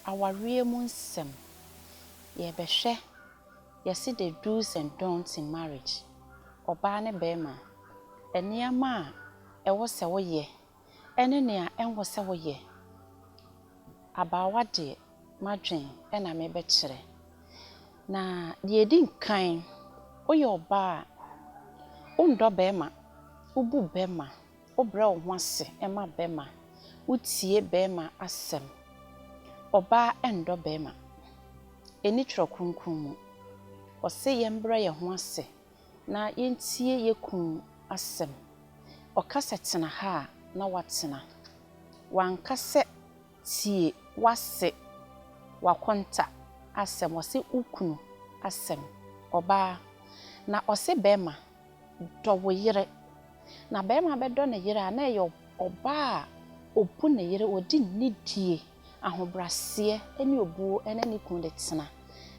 Awareɛ mu nsɛm, Yɛrebɛhwɛ yɛse the do's and don'ts in marriage, ɔbaa ne barima, nneɛma a ɛwɔ sɛ woyɛ ɛne nea ɛnwɔ sɛ woyɛ. Abaawa deɛ m'adwen na mebɛkyerɛ. Na deɛ ɛdi nkan, woyɛ ɔbaa a, wondɔ barima, wobu barima, Wobrɛ wo ho ase ma bɛma. Wotie bɛma asɛm. Ɔbaa ɛndɔ bɛma. Ɛni twerɛ kronkron mu. Ɔse yɛmbrɛ yɛn ho ase na yɛntie yɛ kunu asɛm. Ɔka sɛ tena ha a na watena. Wanka sɛ tie wase wakonta asɛm. Ɔse wo kunu asɛm. Ɔbaa na ɔse bɛma Dɔ wo yere. Na barima bɛdɔ ne yere a, na ɛyɛ ɔbaa a ɔbu ne yere, ɔde nidie, ahobrɛaseɛ ne obuo ne ne kunu de tena,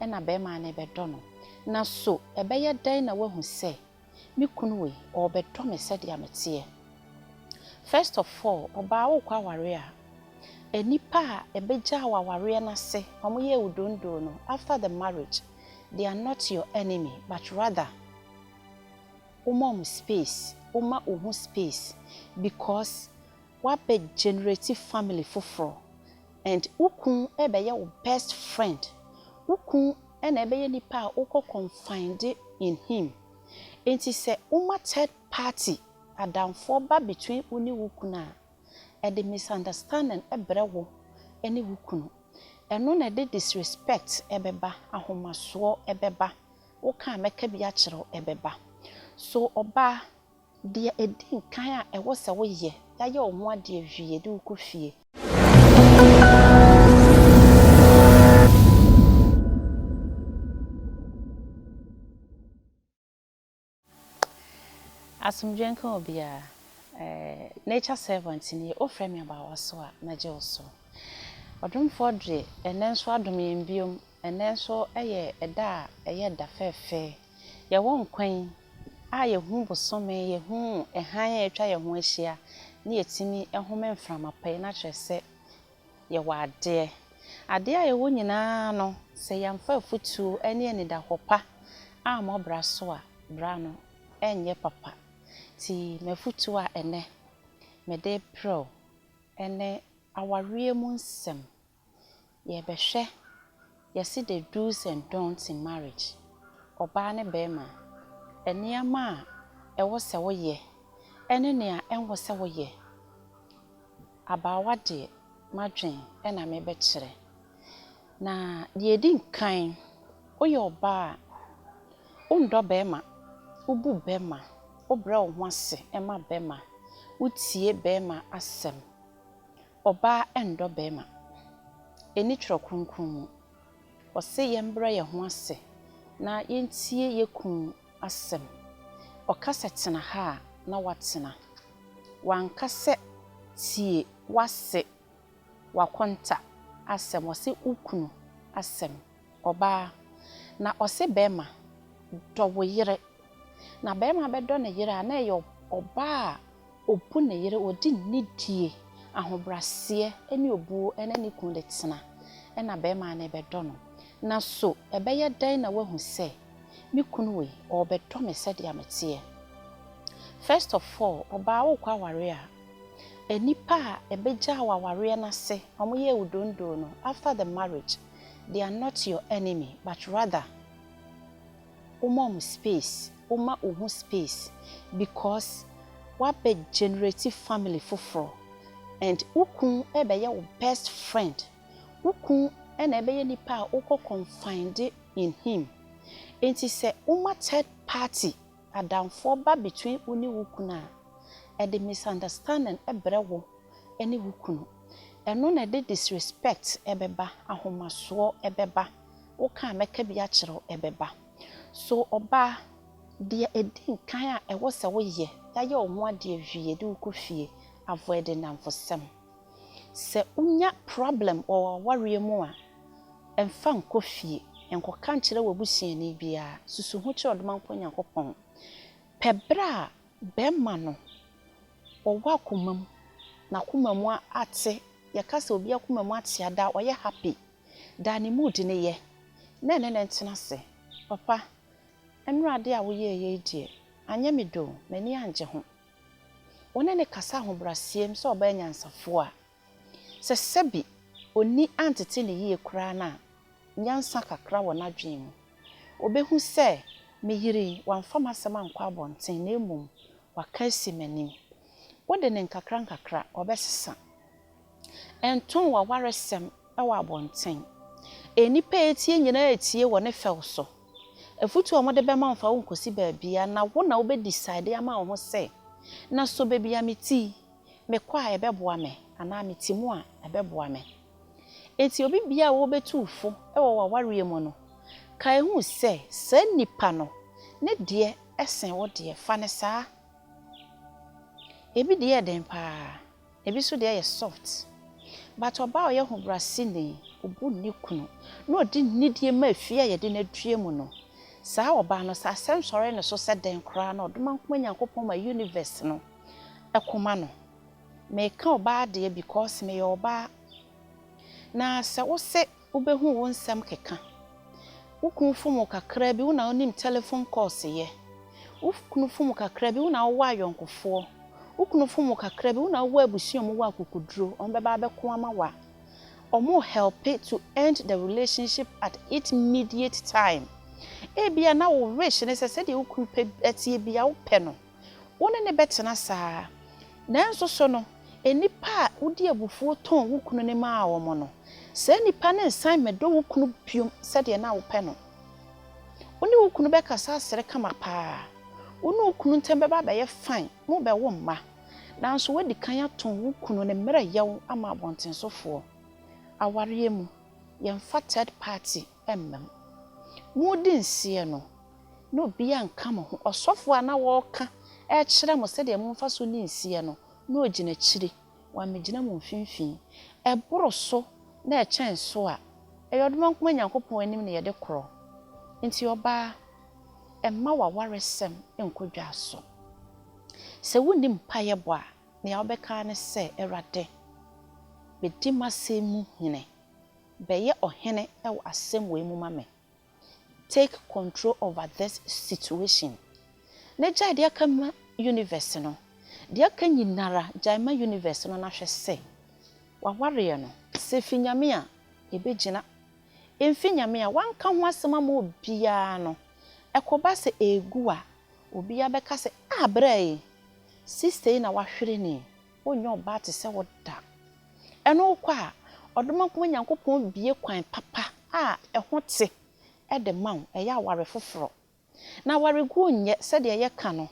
ɛna barima no bɛdɔ no. Na so ɛbɛyɛ dɛn na woahu sɛ me kunu wei, ɔrebɛdɔ me sɛdeɛ meteɛ? First of all, ɔbaa worekɔ awareɛ a, nnipa a ɛbɛgyaa wo awareɛ no ase, wɔyɛɛ wo dondoo no, after the marriage, they are not your enemy but rather wo ma wɔn space, wo ma wo ho space because w'abɛ generate family foforɔ and wo kunu ɛbɛyɛ wo best friend, wo kunu ɛna ɛbɛyɛ nipa a wo kɔ confide in him nti sɛ wo ma third party adamfoɔ ba between wo ne wo kunu a, Ɛde misunderstanding brɛ wo ne wo kunu. Ɛno na ɛde disrespect bɛba, ahomasoɔ bɛba, wo ka a mɛka bi akyerɛ wo bɛba. So ɔbaa, deɛ ɛdi nkan a ɛwɔ sɛ wo yɛ, yayɛ wo ho adeɛ wie yɛde wo kɔ fie. Asomdwoe nka obiara. Eh, nature servant nie, wo frɛ me abaawa so a, mɛgye wo so. Ɔdomfoɔ Dre, ɛnnɛ nso adom yɛn biom, ɛnnɛ nso yɛ ɛda a ɛyɛ ɛda fɛɛfɛ. Yɛwɔ nkwa yi a yɛhu bosome, yɛhu hann a atwa yɛn ho ahyia, ne yɛtumi home mframa pa yi no akyerɛ sɛ, Yɛwɔ adeɛ. Adeɛ a yɛwɔ nyinaa no, sɛ yɛamfa afotuo ne anidahɔ pa ammɔ bra so a, bra no renyɛ papa. Nti m'afotuo a ɛnnɛ mede rebrɛ wo ne awareɛ mu nsɛm. Yɛbɛhwɛ. Yɛse the do's and don'ts in marriage, ɔbaa ne barima, nneɛma a ɛwɔ sɛ wo yɛ ɛne nea ɛnwɔ sɛ wo yɛ. Abaawa deɛ m'adwen ɛna me bɛ kyerɛ. Na deɛ ɛdi nkan, wo yɛ ɔbaa a, wo ndɔ barima, wo bu barima, wo brɛ wo ho ase ma barima, wo tie barima asɛm, Ɔbaa ɛndɔ bɛɛma. Ɛnni twerɛ kronkron mu. Ɔse yɛn brɛ yɛn ho ase na yɛn tie yɛn kunu asɛm. Ɔka sɛ tena ha a na watena. Wanka sɛ tie wase, wakonta asɛm, wase wo kunu asɛm. ɔbaa, na ɔse bɛrima, dɔ wo yere. Na bɛrima bɛdɔ ne yere a, na ɛyɛ ɔbaa a ɔbu ne yere, ɔde nidie, ahobraseɛ ne obuo ne ne kunu de tena, ɛna bɛrima no bɛdɔ no. Na so ɛbɛyɛ dɛn na wahu sɛ me kunu wei, ɔrebɛdɔ me sɛdeɛ meteɛ? First of all, ɔbaa worekɔ awareɛ a, nnipa a ɛbɛgyaa wo awareɛ no ase, wɔyɛɛ wo dondoo no, after the marriage, They are not your enemy but rather wo ma ɔmo space, wo ma wo ho space because w'abɛ generate family foforɔ and wo kun ɛbɛyɛ wo best friend, wo kun ɛna ɛbɛyɛ nipa a wo kɔ confide in him nti sɛ wo ma third party. adamfoɔ ba between wo ne wo kunu a, ɛde misunderstanding brɛ wo ne wo kunu. Ɛno na ɛde disrespect bɛba, ahomasoɔ bɛba, wo ka a mɛka bi akyerɛ wo bɛba. So ɔbaa, deɛ ɛdi nkan a ɛwɔ sɛ wo yɛ, yayɛ wo ho adeɛ wie de wo kɔ fie, avoid nnamfosɛm. Sɛ wonya problem wɔ w'awareɛ mu a, mfa nkɔ fie. Nkɔka nkyerɛ w'abusuani biara. Susu ho kyerɛ Ɔdomankɔ Nyankopɔn. Pɛ berɛ a bɛrima no wɔ w'akoma mu, n'akoma mu ate. Yɛka sɛ obi akoma mu ate a, daa ɔyɛ happy. Daa ne mood no yɛ, na ɛne no ntena ase. Papa, nnora adeɛ a woyɛeɛ yi deɛ, anyɛ me dɛ o, m'ani anngye ho. Wo ne no kasa ahobrɛaseɛm sɛ ɔbaa nyansafoɔ a, sɛ sɛbi ɔnni antete no yie koraa no a, nyansa kakra wɔ n'adwene mu. Ɔbɛhu sɛ me yere yi, wamfa m'asɛm ankɔ abɔnten na mmom waka asi m'anim. Wode no nkakrankakra, ɔbɛsesa. Ɛntoo w'awaresɛm wɔ abɔnten. Nnipa a ɛretie nyinaa retie wɔ ne fɛw so. Afutu a wɔde bɛma wo mfa wo nkɔsi baabiara na wo na wobɛ decide ama wo ho sɛ, na so baabi a meti, mekɔ a ɛbɛboa me anaa meti mu a ɛbɛboa me. Enti obi biara a ɔrebɛtu wo fo wɔ w'awareɛ mu no, kae hu sɛ saa nipa no, ne deɛ sen wo deɛ. Fa no saa. Ebi deɛ yɛ den paa. Ebi nso deɛ yɛ soft. But ɔbaa a ɔyɛ hobrɛaseni, ɔbu ne kunu, na ɔde nidie ma efie a yɛde no adua mu no, saa ɔbaa no, sɛ asɛm sɔre ne so sɛ dɛn koraa no, Ɔdomankoma Nyankopɔn ma Universe no ko ma no. Meka ɔbaa deɛ because meyɛ ɔbaa. Na sɛ wose Wobɛhu wo nsɛm keka. Wo kunu fom wo kakraa bi, wo na wonim telephone calls yɛ. Wo kunu fom wo kakraa bi, wo na wowɔ ayɔnkofoɔ. Wo kunu fom wo kakraa bi, wo na wowɔ abusua a wɔwɔ akokoduro, wɔbɛba abɛko ama wo a, wɔn helpe to end the relationship at it mediate time. Ebia na wo wish ne sɛ sɛdeɛ wo kunu pɛ teɛ biara wopɛ no. Wo ne no bɛtena saa. Nanso so no, nnipa a wode abufuo tɔn wo kunu no maa wɔn no, saa nnipa no nsan mmɛdɔ wo kunu bio sɛdeɛ na wopɛ no? Wo ne wo kunu bɛkasa asere kama pa ara. Wo ne wo kunu ntam bɛba abɛyɛ fine, mobɛwo mma. Nanso woadi kan atɔn wo kunu ne mmerɛyɛ wo ama abɔntensofoɔ. Awareɛ mu, yɛmfa third party. mmam. Modi nseɛ no, na obiara nka mo ho. Ɔsɔfoɔ a na ɔreka rekyerɛ mo sɛdeɛ momfa so nni nseɛ no, na ɔgyina akyire. Wammɛgyina mo mfimfini. Ɛboro so na ɛkyɛn so a, ɛyɛ ɔdomankoma Nyankopɔn anim na yɛde korɔ. Enti ɔbaa, mma w'awaresɛm nnkɔ dwa so. Sɛ wonni mpaeɛ bɔ a, nea wobɛka ara ne sɛ, Awurade, bɛdi m'asɛm mu hene. Bɛyɛ ɔhene wɔ asɛm wei mu ma me. Take control over this situation. Na gyae deɛ aka ma universe no. Deɛ aka nyinara gyae ma universe no na hwɛ se wawareɛ no. Sɛ ɛfi Nyame a, ɛbɛgyina. Ɛmfi Nyame a, wanka ho asɛm ama obiara no, ɛkɔba sɛ ɛregu a, obiara bɛka sɛ, Ah, bra yi, sister yi na wahwere no yi. Wonyɛ ɔbaa te sɛ wo da. Ɛno wokɔ a, ɔdomankoma Nyankopɔn bue kwan papa a ɛho te de ma wo, ɛyɛ aware foforɔ. Na awareguo nyɛ sɛdeɛ yɛka no,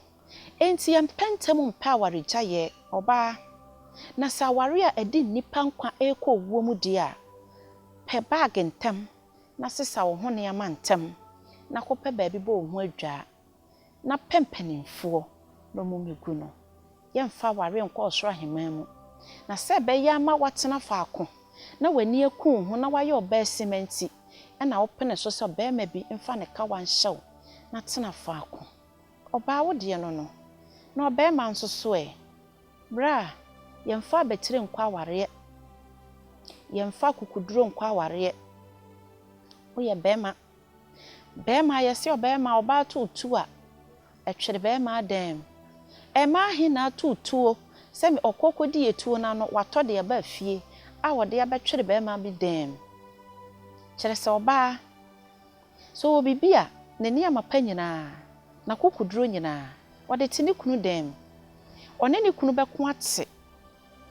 enti yɛmpɛ ntɛm mpɛ awaregyaeɛ. Ɔbaa, na sɛ aware a ɛde nnipa nkwa rekɔ owuo mu deɛ a, pɛ bag ntɛm na sesa wo ho nneɛma ntɛm na kɔpɛ baabi bɔ wo ho adwaa. na pɛ mpanimfoɔ na wɔmmɛgu no. Yɛremfa awareɛ nkɔ ɔsoro ahemman mu. Na sɛ ɛbɛyɛ ama woatena faako na w'ani aku wo ho na woayɛ ɔbaasima nti, ɛnna wopene so sɛ ɔbarima bi mfa ne kawa nhyɛ wo na tena faako. Ɔbaa wo deɛ no no, na ɔbarima nso so ɛ? Bra, yɛmfa abatire nkɔ awareɛ, yɛmfa akukuduro nkɔ awareɛ. Woyɛ barima. Bɛɛma yɛse ɔbɛɛma ɔbaa too tuo a, ɛtwere bɛɛma adɛɛm. Ɛɛmaa he na atoo tuo sɛ me ɔkɔ kɔdi etuo no ano watɔ de aba fie a ɔde abɛtwere bɛɛma bi dɛɛm? Kyerɛ sɛ ɔbaa, sɛ ɔwɔ bibi a, ne nneɛma pa nyinaa, n'akokoduro nyinaa, ɔde te ne kunu dɛɛm. Ɔne ne kunu bɛko ate.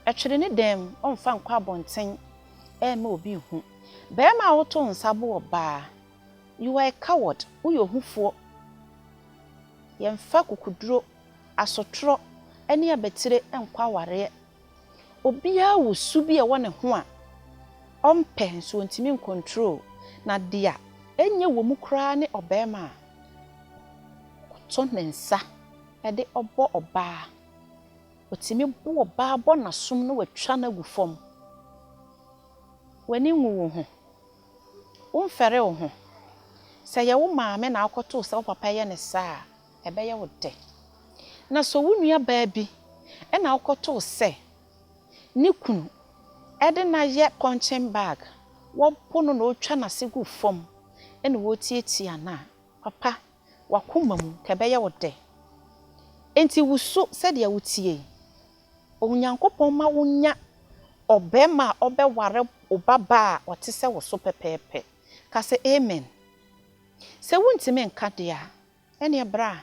Ɛtwere ne dan mu, ɔmfa nkɔ abɔnten ɛmma obi nhu. Barima a woto nsa bo ɔbaa, you are a coward, woyɛ ohufoɔ. Yɛmfa kukuduro, asotorɔ ne abatire nkɔ awareɛ. Obiara wɔ su bi a ɛwɔ ne ho a ɔmpɛ nso ɔntumi ncontrol, na deɛ ɛnyɛ wɔ mu koraa ne ɔbarima a ɔto ne nsa de ɔbɔ ɔbaa Otumi bo ɔbaa bɔ n'asom na watwa no agu fam. W'ani nwu wo ho. Womfɛre wo ho. Sɛ ɛyɛ wo maame na akɔto wo sɛ wo papa yɛ no saa a, ɛbɛyɛ wo dɛ. Na sɛ wo nuabaa bi na akɔto wo sɛ ne kunu de no ayɛ punching bag, wɔbo no na ɔretwa n'ase gu fam na ɔretiatia no a, papa W'akoma mu, ka ɛbɛyɛ wo dɛ. Enti wusu sɛdeɛ woteɛ yi. Onyankopɔn ma wonya ɔbarima a ɔbɛware wo babaa a ɔte sɛ wo so pɛpɛɛpɛ. Ka sɛ, Amen. Sɛ wontumi nka deɛ a, ɛnneɛ bra.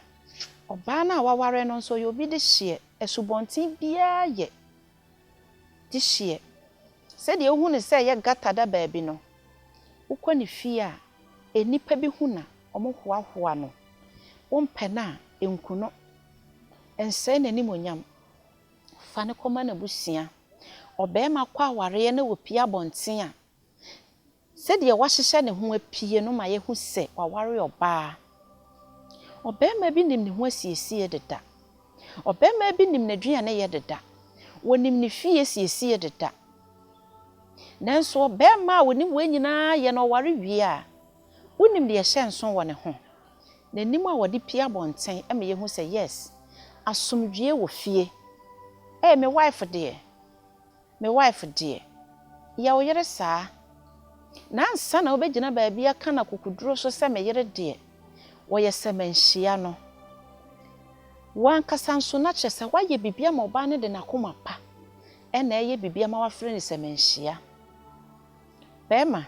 Ɔbaa no a waware no nso, ɔyɛ obi dehyeɛ. Asubɔnten biara yɛ. gye hyeɛ. Sɛdeɛ wohu no sɛ ɛyɛ gata da baabi no, wokɔ ne fie a, nnipa bi hu no a, wɔhoahoa no. Wompɛ no a, nku no. Nsɛe n'animuonyam. Fa no kɔma n'abusua. Ɔbarima kɔ awareɛ na ɔpue abɔnten a, Sɛdeɛ wahyehyɛ ne ho apue no ma yɛhu sɛ waware ɔbaa. Ɔbarima bi nim ne ho asiesie deda. Ɔbarima bi nim n'aduaneyɛ deda. Ɔnim ne fie siesie deda. Nanso ɔbarima a ɔnim wei nyinaa yɛ na ɔware wie a, wonim deɛ ɛhyɛ nso wɔ ne ho? N'anim a ɔde pue abɔnten ma yɛhu sɛ, yes, asomdwoeɛ wɔ fie. Ei, me wife deɛ, Me wife deɛ, yɛ wo yere saa. Na ansa na wobɛgyina baabi aka no akokoduro so sɛ me yere deɛ, wɔyɛ sɛ manhyia no. Wo ankasa nso, na kyerɛ sɛ woayɛ biribi ama ɔbaa no de n'akoma pa na ɛreyɛ biribi ama wo afrɛ no sɛ manhyia. Barima,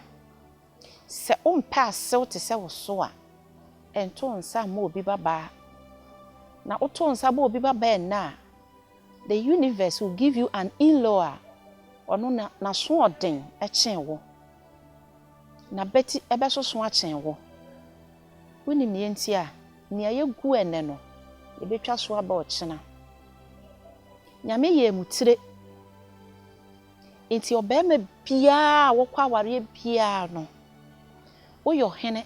sɛ wompɛ asew te sɛ wo so a, nto wo nsa mma obi babaa. Na woto wo nsa bɔ obi babaa ɛnnɛ a, The universe will give you an in-law a ɔno na n'asoɔden kyɛn wo. N'abati bɛsoso akyɛn wo. Wonim nea enti a nea yɛgu ɛnnɛ no, yɛbɛtwa so aba ɔkyena? Nyame yɛɛ mu tire. Enti ɔbarima biara a wɔkɔ awareɛ biara no, Woyɛ ɔhene,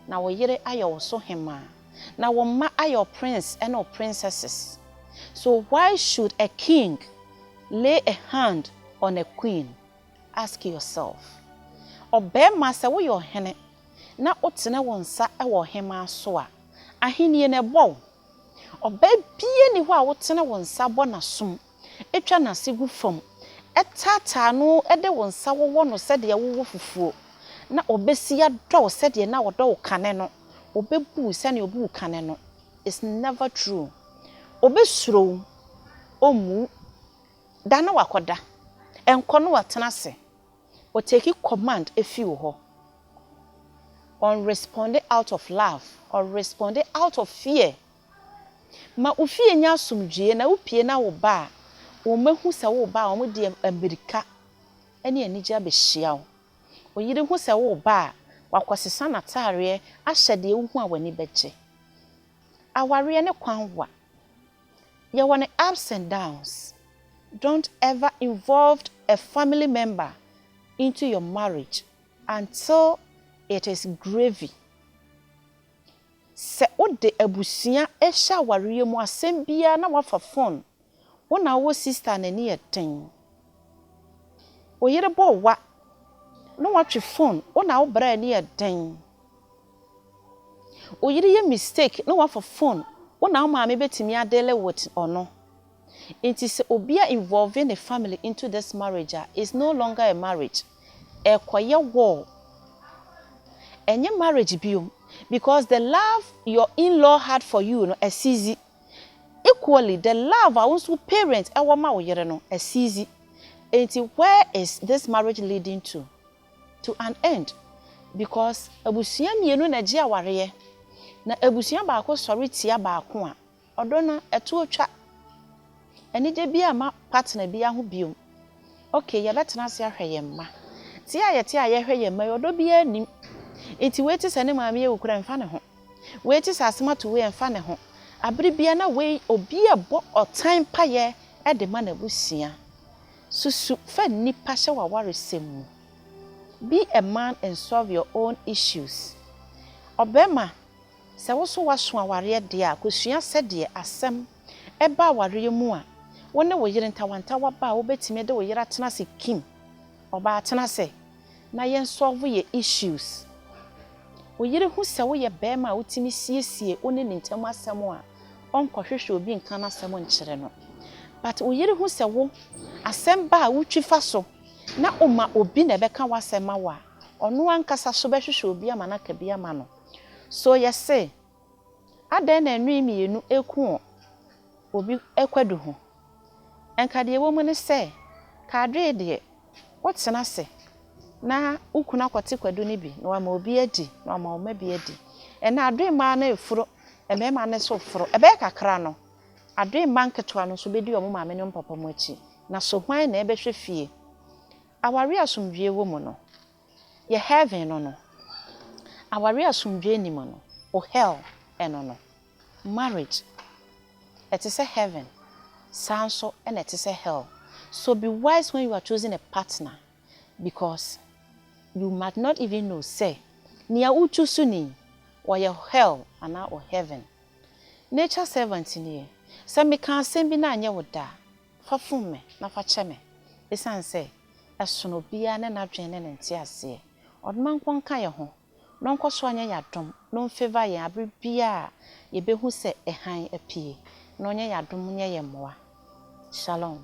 na wo yere ayɛ wo so hemmaa, na wo mma ayɛ wo prince ne wo princesses. So why should a king lay a hand on a queen? Ask yourself. Ɔbarima, sɛ woyɛ ɔhene na wotene wo nsa wɔ ɔhemmaa so a, ahennie no ɛbɔ wo. Ɔbaa biara nni hɔ a wotene wo nsa bɔ n'asom. twa n'ase gu fam, taataa no de wo nsa wowɔ no sɛdeɛ wowɔ fufuo, na ɔbɛsi adɔ wo sɛdeɛ na ɔdɔ wo kane no, ɔbɛbu wo sɛdeɛ ɔbu wo kane no, it's never true. Ɔbɛsuro wo, ɔmmu wo, da na wakɔda, nkɔ na watena ase, ɔtake command firi wo hɔ. Ɔnresponde out of love, ɔresponde out of fear. Ma wo fie nyɛ asomdwoeɛ na wopue na wo ba a, wɔahu sɛ woreba a, wɔde mmirika ne anigyeɛ abɛhyia wo. Wo yere hu sɛ woreba a, wakɔsesa n'atadeɛ ahyɛ deɛ wohu a w'ani bɛgye. Awareɛ ne kwanwa. Yɛwɔ ne ups and downs. Don't ever involved a family member into your marriage until it is gravy. Sɛ wode abusua rehyɛ awareɛ mu asɛm biara na woafa fon, wo na wowɔ sista a n'ani yɛ den. Wo yere bɔ wo wa na watwe fon, wo na wo bra a ani yɛ den. Wo yere yɛ mistake na wafa fon, wo na wo maame bɛtumi adeale with ɔno. Nti sɛ obia involve ne family into this marriage a is no longer a marriage ɛrekɔyɛ war ɛnyɛ marriage biom because the love your in law had for you no asizi equally the love a wo nso wo parent ɛwɔ ma wo yere no asizi nti where is this marriage leading to to an end because abusua mmienu na ɛgye awareɛ na abusua baako sɔre tia baako a Ɔdɔ no ɛto otwa. Anigye biara mma partner biara ho bio. Okay, yɛbɛtena ase ahwɛ yɛn mma. Te a yɛte a yɛhwɛ yɛn mma yi, ɔdɔ biara nnim. Nti wei te sɛ ne maame awu koraa ɛmfa ne ho. Wei te sɛ asɛm ato wei ɛmfa ne ho. Abere biara na wei obi rebɔ ɔtan mpaeɛ de ma n'abusua. Susu fa nnipa hyɛ w'awaresɛm mu. Be a man and solve your own issues. Ɔbarima Sɛ wo nso woaso awareɛ deɛ a, kɔsua sɛdeɛ asɛm ba awareɛ mu a wo ne wo yere ntawantawa ba a wobɛtumi de wo yere atena ase Kim, Ɔbaa tena ase na yɛnsɔlvo yɛ issues Wo yere hu sɛ woyɛ barima a wotumi siesie wo ne ne ntam asɛm a ɔnkɔhwehwɛ obi nka n'asɛm nkyerɛ no But wo yere hu sɛ wo asɛm ba a wotwi fa so na woma obi na ɛbɛka w'asɛm ma wo a, ɔno ankasa nso bɛhwehwɛ obi ama no aka bi ama no. So yɛse, Adɛn na nnoe mmienu reko wɔ obi kwadu ho? Nka deɛ ɛwɔ mu ne sɛ, kaadwee deɛ, wotena ase na wo kunu akɔte kwadu no bi na wama obi adi, na wama wo mma bi adi. Ɛnna adwee mmaa no reforo, mmarima no nso reforo. Ɛbɛyɛ kakra no, adwee mma nketewa no nso bɛdi wɔn maame ne wɔn papa mu akyi. Na so hwan na ɛbɛhwɛ fie? Awareɛ a asomdwoeɛ wɔ mu no, Yɛ heaven no no. Aware asomdwoe nni mu no, o hell no no. Marriage, ɛte sɛ heaven, saa nso na ɛte sɛ hell. So be wise when you are choosing a partner because you might not even know sɛ nea wo choose ni, ɔyɛ hell anaa o heaven. Nature servant nie, sɛ meka asɛm bi na anyɛ wo dɛ a, fa fom me na fa kyɛ me. Esiane sɛ Ɛsono obiara ne n'adwene ne ne nteaseɛ. Ɔde ma nkɔ nka yɛn ho, na ɔnkɔ so anyɛ yɛn adom, na ɔnfavour yɛn abere biara a yɛbɛhu sɛ ɛhan apue, na ɔnyɛ yɛn adom nyɛ yɛn mmoa. Shalom.